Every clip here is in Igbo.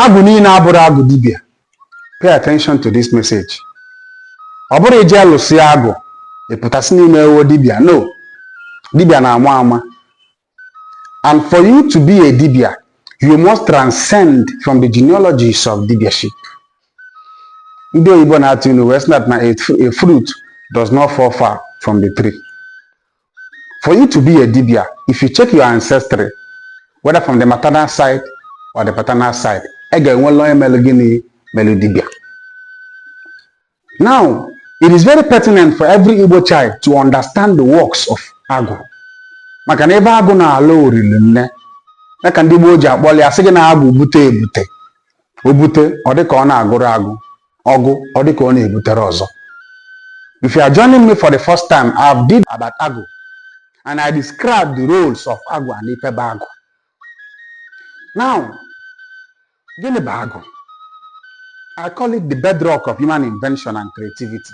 agwụ niile abụrọ agwụ dibịa pay attention to this message ọ bụrọ i je lụsịa agwụ ị pụta sị na i meewo dibịa no dibịa na-ama ama and for you to be a dibịa you must transcend from the genealogies of dibiaship ndị oyibo na-atụ ilu wee sị na a fruit does not fall far from the tree For you to be a dibia, if you check your ancestry, whether from the maternal side or the paternal side, ị ga-enwela onye melu gịnị melu dibia. Now, it is very pertinent for every Igbo child to understand the works of agwụ maka na ebe agwụ na-alụ ọrụ rinne ya ka ndị gboo ji akpọli asị gị na agwụ bute ebute o bute ọ dịka ọ na-agwụrọ agwụ ọ gwụ ọ dịka ọ na-ebutere ọzọ if you are joining me for the first time I have did about agwụ and I describe the roles of agwụ and ife bụ agwụ now gịnị bụ agwụ I call it the bedrock of human invention and creativity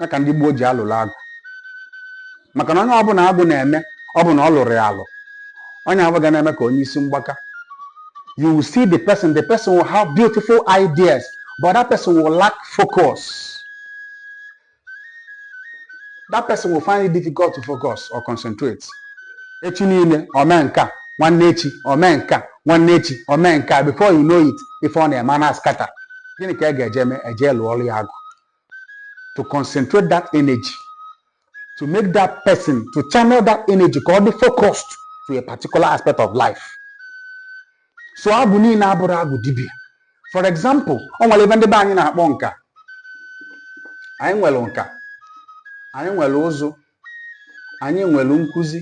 ya ka ndị gboo ji alụrụ agwụ maka na onye ọbụla agwụ na-eme ọ bụ na ọ lụrọ ya alụ onye ahụ ga na-eme ka onye isi mgbaka you will see the person the person will have beautiful ideas but that person will lack focus that person will find it difficult to focus or concentrate echi niile o mee nke a nwanne echi o mee nke a nwanne echi o mee nke a before you know it ife ọ na-eme na-scatter gịnị ka e ga-eje eme e je lụọrụ ya agwụ to concentrate that energy to make that person to channel that energy ka ọ dị focused to a particular aspect of life so agwụ niile abụrọ agwụ dibia for example o nwelu ive ndị be anyị na-akpọ nka anyị nwelu nka anyị nwelu ụzụ anyị nwere nkụzi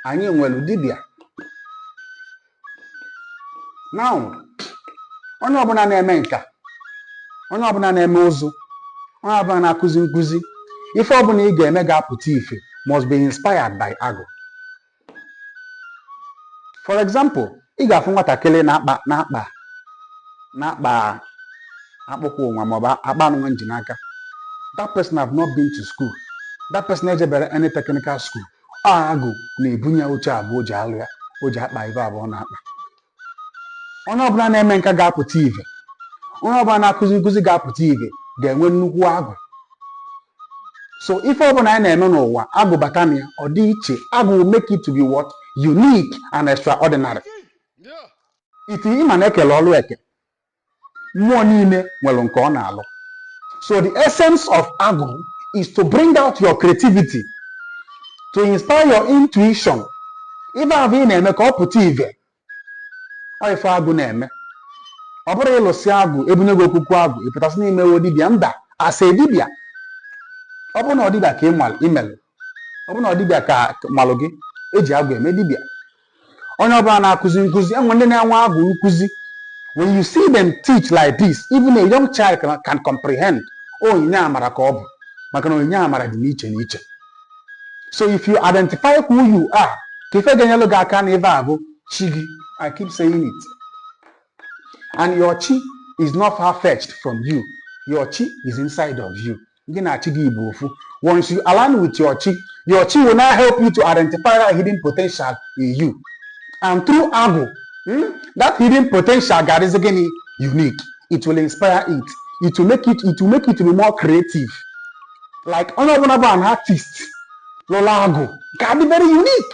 anyị nwere dibịa na onye ọbụla na-eme nka onye ọbụla na-eme ụzụ onye ọbụla na-akụzi nkụzi ife ọbụla ị ga-eme ga-apụta ife must be inspired by agwụ for example ị ga-afụ nwatakịrị na-akpa na-akpa na-akpa akpụkpọ ụkwụ nwa maọbụ akpa nụnwa m ji n'aka that person have not been to school that person ejeberọ any technical school ọ agwụ na-ebunye ya uche avụ o ji alụ ya o ji akpa ive avụ ọ na-akpa onye ọbụla na-eme nka ga-apụta ive onye ọbụla na-akụzi nkụzi ga-apụta ive ga-enwe nnukwu agwụ so ife ọbụla anyị na-eme n'ụwa agwụ bata na ya ọ dị iche agwụ will make it to be what unique and extraordinary iti ịma na e kelu ọlụ eke mmụọ niile nwere nke ọ na-alụ so the essence of agwụ is to bring out your creativity to inspire your intuition ife ahụ ị na-eme ka ọ pụta ive ọ ife agwụ na-eme ọ bụrụ ị lụsị agwụ e bunye gị okuku agwụ ị pụtasị na ị mewe dibịa mba asa dibịa ọ bụrụ na ọ dibịa ka ị nwal imelụ ọ bụrụ na ọ dibịa ka malụ gị e ji agwụ eme dibịa onye ọbụla na-akụzi nkụzi e nwee ndị na-enwe agwụ nkụzi when you see them teach like this even a young child can, can comprehend onyinye amara ka ọ bụ maka na onyinye amara dị n'iche n'iche so if you identify who you are ka ife ga-enyelụ gị aka n'ife a bụ chi gị i keep saying it and your chi is not far fetched from you your chi is inside of you gị na chi gị bụ ofu once you align with your chi your chi will now help you to identify that hidden potential in you and through agwụ hmm, that hidden potential ga-adịzi gịnị unique it will inspire it it will make it it will make it to be more creative like onye ọbụla bụ an artist lụrụ agwụ ga-adị very unique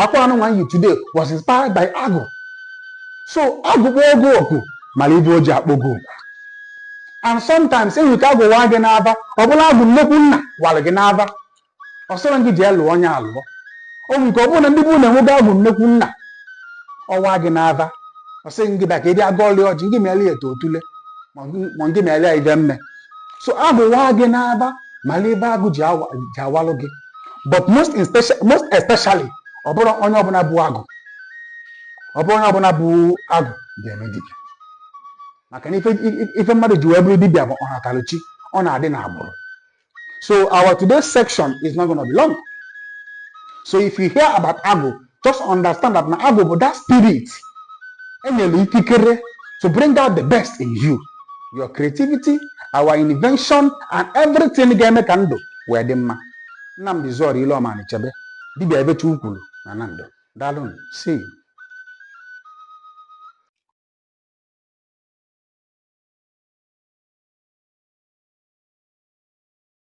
akwa anụnwa yi today was inspired by agwụ so agwụ kpọọ gị oku mara ive o ji akpọ gị oku and sometimes enwere ike agwụ waa gị n'aba ọ bụrụ agwụ nnekwu nna wara gị n'aba ọ sịrị gị jee lụọ onye alụọ o nwere ike ọ bụrụ na ndị bụ na enwego agwụ nnekwu nna ọwa gị n'aba ọ sị gị bịa ka ị bịa gọọlụ ọjị gị meela ya eto otule ma gị- ma gị meela ya ive mmee so agwụ waa gị n'aba mara ive agwụ ji awa- ji awalụ gị but most in special most especially ọ bụrọ onye ọbụla bu agwụ ọ bụrọ onye ọbụla bu agwụ ga-eme dibịa maka na ife i- ife mmadụ ji wee bụrụ dibịa bụ ọnatalụchi ọ na-adị n'agbụrụ so our today's section is not gonna be long so if you hear about agwụ just understand that na agwụ bụ that spirit e nyere ikikere to bring out the best in you your creativity our invention and everything ga-eme ka ndụ wee dị mma nnamdị zọrọ ile ọma chebe dibịa ebecha ukwuru na na ndụ daalụ see you.